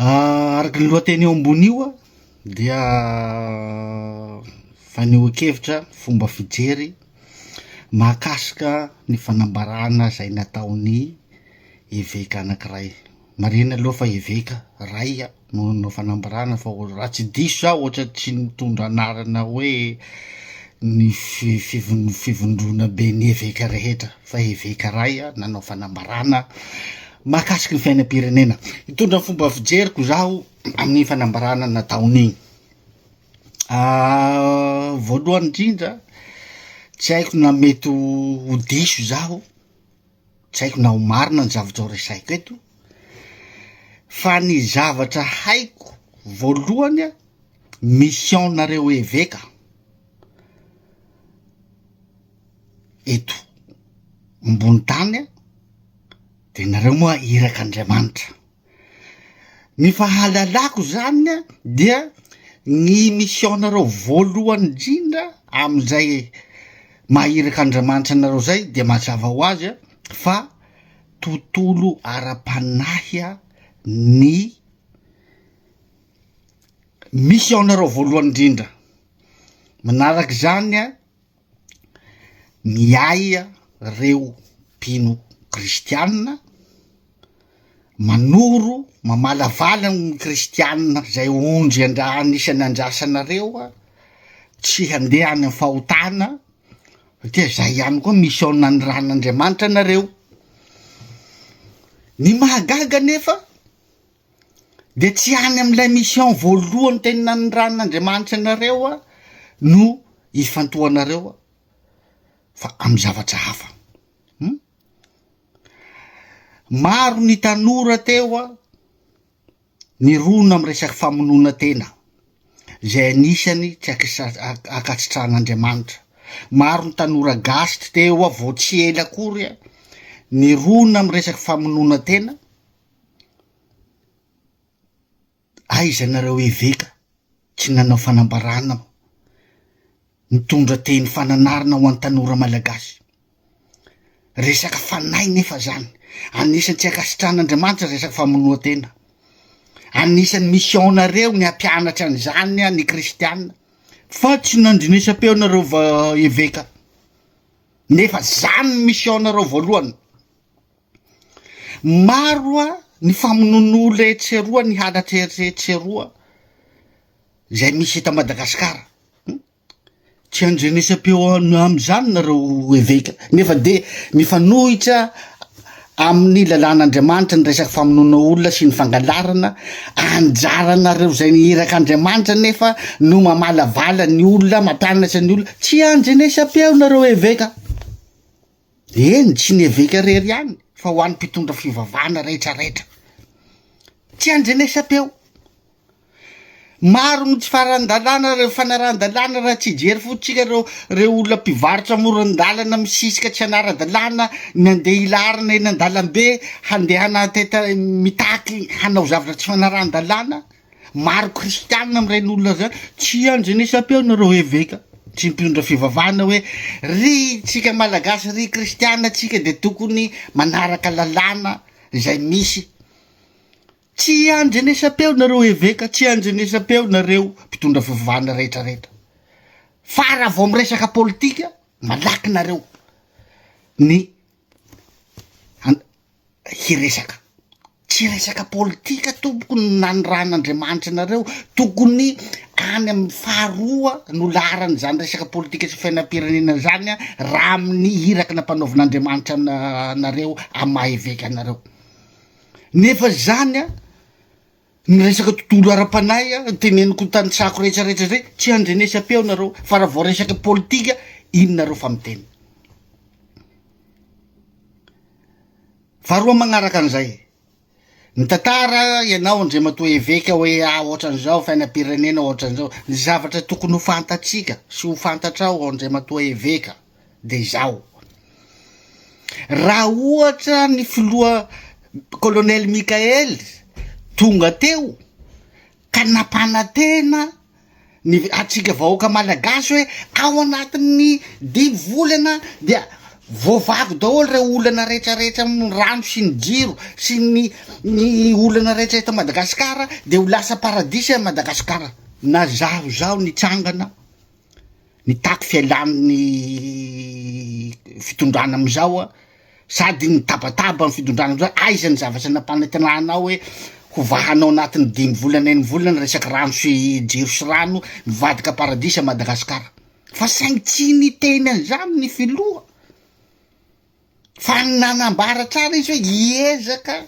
Araka ny lohateny eo ambony io dia fanehoan-kevitra fomba fijery mahakasika ny fanambarana izay nataon'ny eveka anankiray, marihina aloha fa eveka iray no nanao fanambarana fa raha tsy diso za ohatra tsy nitondra anarana hoe ny fi- fivon- fivondrona ben'ny eveka rehetra fa eveka iray nanao fanambarana. Mahakasiky ny fiainam-pirenena, hitondra ny fomba fijeriko izaho amin'ny fanambarana nataony. Voalohany indrindra, tsy haiko na mety ho diso izaho, tsy haiko na ho marina ny zavatra ho resaiko eto, fa ny zavatra haiko voalohany an, mission-nareo eveka. eto ambony tany a de nareo moa irak' Andriamanitra ny fahalalako zany a dia ny mission-nareo voalohany indrindra am'izay maha irak' Andriamanitra anareo zay de mazava ho azy a fa tontolo ara-panahy a ny mission-nareo voalohany indrindra, manarak'izany a ny ahy reo mpino kristianina manoro mamalavala ny kristianina zay ondry andra anisany andrasanareo a tsy handeha any fahotana satria zay ihany koa mission nanorahan'andriamanitra anareo ny mahagaga nefa dia tsy any amin'ilay mission voalohany teny nanirahan'Andriamanitra anareo aho no hifantohanareo aho fa amin'ny zavatra hafa hum maro ny tanora teo aho ny rona am resaky famonoana tena izay anisany tsy akasitrahan'Andriamanitra maro ny tanora gasy teo aho vao tsy ela akory aho ny rona am resaky famonoana tena Aiza nareo eveka tsy nanao fanambarana ho mitondra teny fananarana ho any tanora malagasy resaka fanahy nefa zany anisan'ny tsy ankasitrahana andriamanitra resaka famonoa tena anisan'ny mission nareo ny hampianatra an'izany any kristiana fa tsy nandrinesam-peo nareo va- eveka nefa zany ny mission nareo voalohany Maro ny famonoan'olona etsy eroa, ny halatra etsy eroa izay misy eto Madagasikara. Tsy andrenesam-peo amin'izany nareo eveka nefa dia mifanohitra amin'ny lalàn'Andriamanitra ny resaka famonoana olona sy ny fangalarana anjaranareo izay ny irak'Andriamanitra nefa no mamalavala ny olona, mampianatra ny olona. Tsy andrenesam-peo nareo eveka. Eny, tsy ny eveka rery ihany fa ho an'ny mpitondra fivavahana rehetrarehetra. Tsy andrenesam-peo. Maro ny tsy faharan-dalàna ireo fanarahan-dalàna raha tsy hijery fotsika ireo ireo olona mpivarotra amoron-dalana misisika tsy hanara-dalàna ny handeha hilarina eny an-dalambe handehana mitaky hanao zavatra tsy fanarahan-dalàna. Maro kristianina amin'ireny olona izany, tsy any Genesapeo nareo eveka, tsy mpionondra fivavahana hoe, ry tsika malagasy, ry kristiana tsika dia tokony manaraka lalàna izay misy, tsy any Genesapeo nareo eveka, tsy any Genesapeo nareo mpitondra fivavahana rehetra rehetra, fa raha vao miresaka politika malaky nareo ny An- hiresaka, tsy resaka politika tompoko no nanirahan'Andriamanitra anareo, tokony any amin'ny faharoa no laharana zany resaka politika sy fiainam-pirenena zany an, raha amin'ny iraka nampanaovin'Andriamanitra an- anareo amin'ny maha eveka anareo, nefa zany an. Ny resaka tontolo ara-panahy an, teneniko ny tanitrako rehetrarehetra zay, tsy handrenesam-peo nareo, fa raha vao resaka politika, iny nareo fa miteny. Faharoa magnaraka an'izay, mitantara ianao Andriamatoa Eveka hoe ah ohatran'izao fiainam-pirenena ohatran'izao, ny zavatra tokony ho fantatsika sy ho fantatrao Andriamatoa Eveka, dia izao, raha ohatra ny filoha Colonel Mickaël tonga teo ka nampanantena ny antsika vahoaka malagasy hoe ao anatin'ny dimy volana dia voavavo daholo ireo olana rehetra rehetra amin'ny rano sy ny jiro sy ny ny olana rehetra eto Madagasikara dia ho lasa paradisa i Madagasikara. Nazahozaho nitsangana. Nitaky fialan'ny fitondrana amin'izao aho, sady nitabataba ny fitondrana amin'izao, aiza ny zavatra nampanantenana anao hoe hovahanao anatin'ny dimy volana enivolana ny resaka rano sy jiro sy rano, mivadika paradisa Madagasikara, fa saingy tsy niteny an'izany ny filoha. Fa nanambara tsara izy hoe hiezaka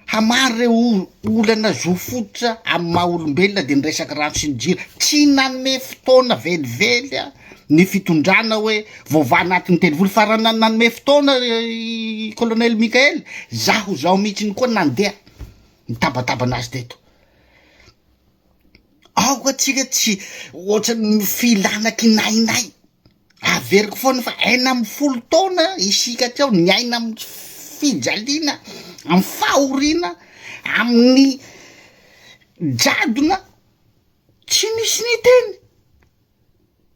hamaha ireo olana zo fototra amin'ny maha olombelona dia ny resaka rano sy ny jiro. Tsy nanome fotoana velively ny fitondrana hoe voavaha anatin'ny telo volana fa raha nanome fotoana i Colonel Mickael, izaho izao mihitsy koa nandeha nitabataba an'azy teto. Aoka tsika tsy ohatran'ny mifehy làna kinahinay. Averiko foana fa enina amby folo taona isika aty ao niaina amin'ny fijaliana, amin'ny fahoriana, amin'ny jadona, tsy nisy niteny.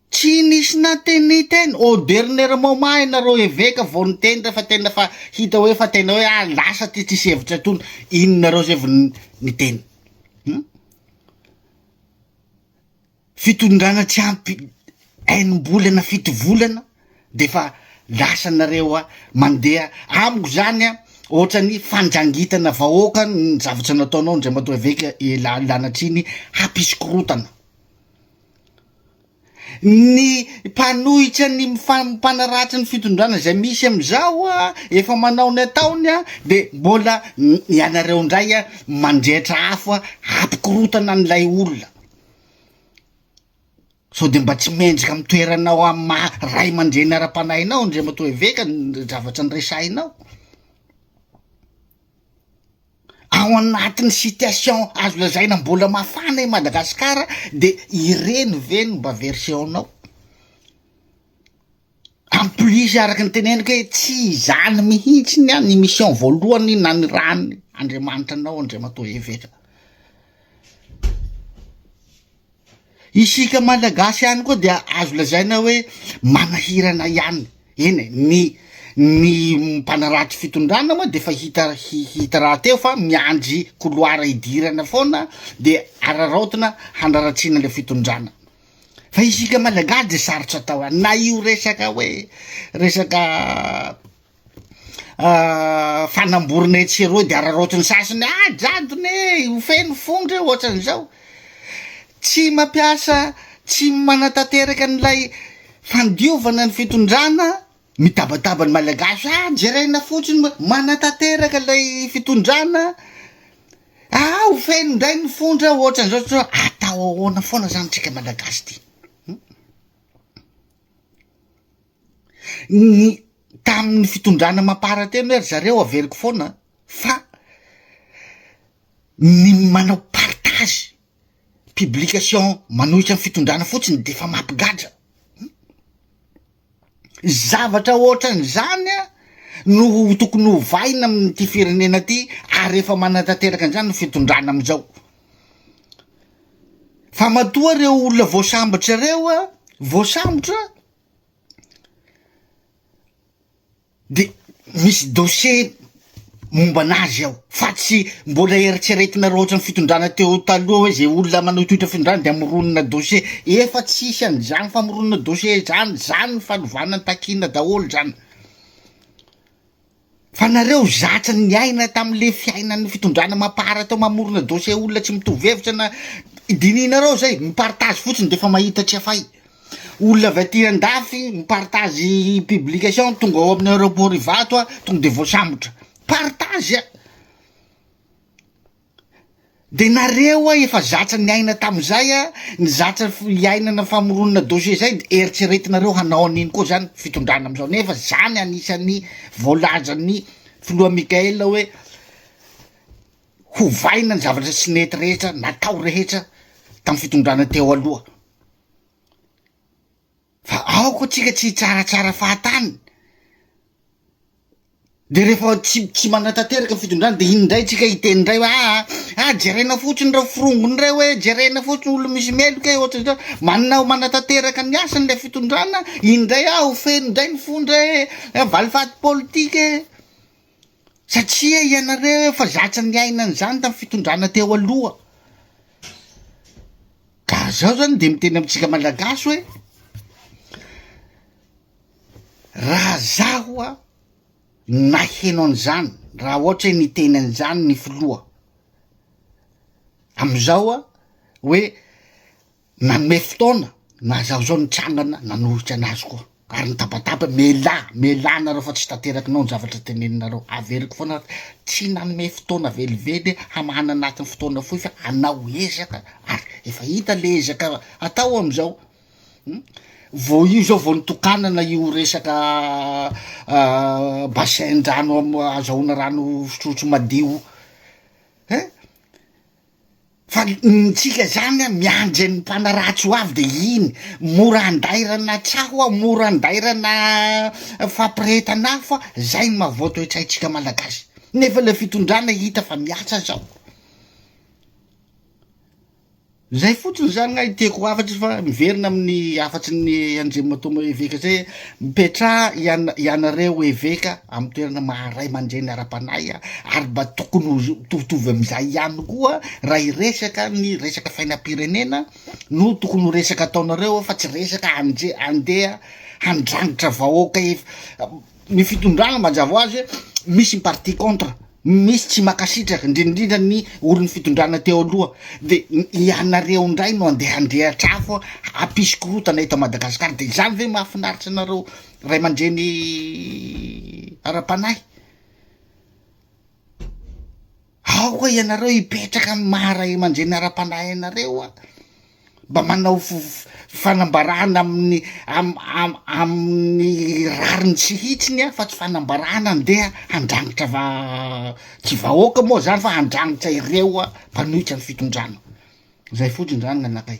Tsy nisy nateny teny au dernier moment ianareo eveka vao niteny rehefa tena efa hita hoe efa tena hoe ah lasa ty tsisy hevitra intsony iny nareo zay vao niteny hum fitondrana tsy ampy enim-bolana fito volana de efa lasa nareo a mandeha amiko zany a ohatrany fandrangitana vahoaka ny zavatra nataonao Andriamatoa Eveka i la- lanatriny hampisy korotana. Ny mpanohitra ny mpanaratsy ny fitondrana izay misy amin'izao efa manao ny ataony dia mbola ianareo indray mandrehitra afo hampikorotana an'ilay olona sao dia mba tsy mendrika amin'ny toeranao amin'ny maha ray aman-dreny ara-panahinao Andriamatoa Eveka ny zavatra niresahinao. Ao anatin'ny situation azo lazaina mbola mafana i Madagasikara dia ireny ve no mba version-nao? En plus araka ny teneniko hoe tsy izany mihitsy ny an' ny mission voalohany nanirahany Andriamanitra anao Andriamatoa Eveka. Isika Malagasy ihany koa dia azo lazaina hoe manahirana ihany, eny e, ny ny mpanarato fitondrana moa dia efa hita hita rahateo fa miandry couloir hidirana foana dia araraotina hanaratsiana ilay fitondrana, fa isika Malagasy dia sarotra atao any na io resaka hoe resaka fanamborona etsy sy eroa de araraotiny sasiny ah jadona e ho feno fo ndreo ohatran'izao tsy mampiasa tsy manatanteraka an'ilay fandiovana ny fitondrana mitabataba ny malagasy ah jerena fotsiny ma- manatanteraka ilay fitondrana ah ho feno ndray ny fo ndreo ohatran'izao tso atao ahoana foana zany tsika malagasy ty. ny tamin'ny fitondrana mampaharatena hoe ry zareo averiko foana fa ny manao partage publication manohitra amin'ny fitondrana fotsiny de efa mampigadra zavatra ohatran'izany a no ho tokony ho vaina amin'ity firenena ty ary efa manatanteraka an'izany ny fitondrana am'izao fa matoa reo olona voasambotra reo a voasambotra De misy dossier momba anazy ao fa tsy mbola eritreretinareo ohatran'ny fitondrana teo taloha hoe zay olona manohitohitra fitondrana de amoronona dossier, efa tsisy an'izany famoronona dossier zany, zany ny fanovana ny takiana daholo zany. Fa nareo zatra niaina tam le fiainan'ny fitondrana mapar teo mamorona dossier olona tsy mitovy hevitra na dinihinareo zay mi partage fotsiny defa mahita tsy afay olona avy aty andafy mi partage publication tonga ao amin'ny aeroport ivato a tonga de voasambotra partage a. Dia nareo a efa zatra niaina tamin'izay a, ny zatra iainana famoronana dossier izay dia eritreretinareo hanao an'iny koa izany fitondrana amin'izao nefa izany anisan'ny voalazan'ny filoha Mickaël hoe hovaina ny zavatra tsy nety rehetra natao rehetra tamin'ny fitondrana teo aloha. Fa aoka tsika tsy hitsaratsara fahatany. Dia rehefa tsy tsy manatanteraka ny fitondrana dia iny indray tsika hiteny indray hoe aa ah jerena fotsiny ireo forongony ireo hoe jerena fotsiny olo misy meloka e ohatran'izao manao manatanteraka ny asany ilay fitondrana iny indray ah ho feno indray ny fo ndray e valifaty politika e satria ianareo efa zatra niaina an'izany tamin'ny fitondrana teo aloha. Ka zaho zany de miteny amintsika malagasy hoe, raha zaho a naheno an'izany raha ohatra hoe niteny an'izany ny filoha am'izao a hoe nanome fotoana naha zaho zao nitsangana nanohitra anazy koa. Ary nitabataba, Melà, melà anareo fa tsy tanterakinao ny zavatra teneninareo. Averiko foana aho, tsy nanome fotoana velively hamahana anatin'ny fotoana fohy fa hanao ezaka, ary efa hita le ezaka atao amin'izao. Vao io izao vao nitokanana io resaka basin-drano azahoana rano fisotromadio, eh? Fa ny tsika zany an miandry an'ny mpanaratsy ho avy de iny mora andairana tsaho an, mora andairana fampirehetana afo fa zay no maha vao toetsaintsika malagasy nefa le fitondrana hita fa miasa zao zay fotsiny zany gna ny tiako hafatry fa miverina amin'ny hafatry ny andriamatoa moa eveka zay. Mipetraha ianareo eveka amin'ny toerana maha ray aman-dreny ara-panahy ary mba tokony ho mitovitovy amin'izay ihany koa raha hiresaka ny resaka fainam-pirenena no tokony ho resaka ataonareo fa tsy resaka handeha handrangitra vahoaka ny fitondrana mazava ho azy hoe misy ny parti contre. Misy tsy makasitraka, indrindrindra ny olon'ny fitondrana teo aloha, dia ianareo indray no andeha handrehatra afo hampisy korotana eto Madagascar, dia izany ve mahafinaritra anareo ray aman-dreny ara-panahy? Aoka ianareo hipetraka amin'ny maha ray aman-dreny ara-panahy anareo a! Mba manao fanambarana amin'ny amin'ny rariny sy hitsiny aho fa tsy fanambarana andeha handrangitra va- tsy vahoaka moa zany fa handrangitra ireo mpanohitra ny fitondrana, zay fotsiny zany gn'anakay.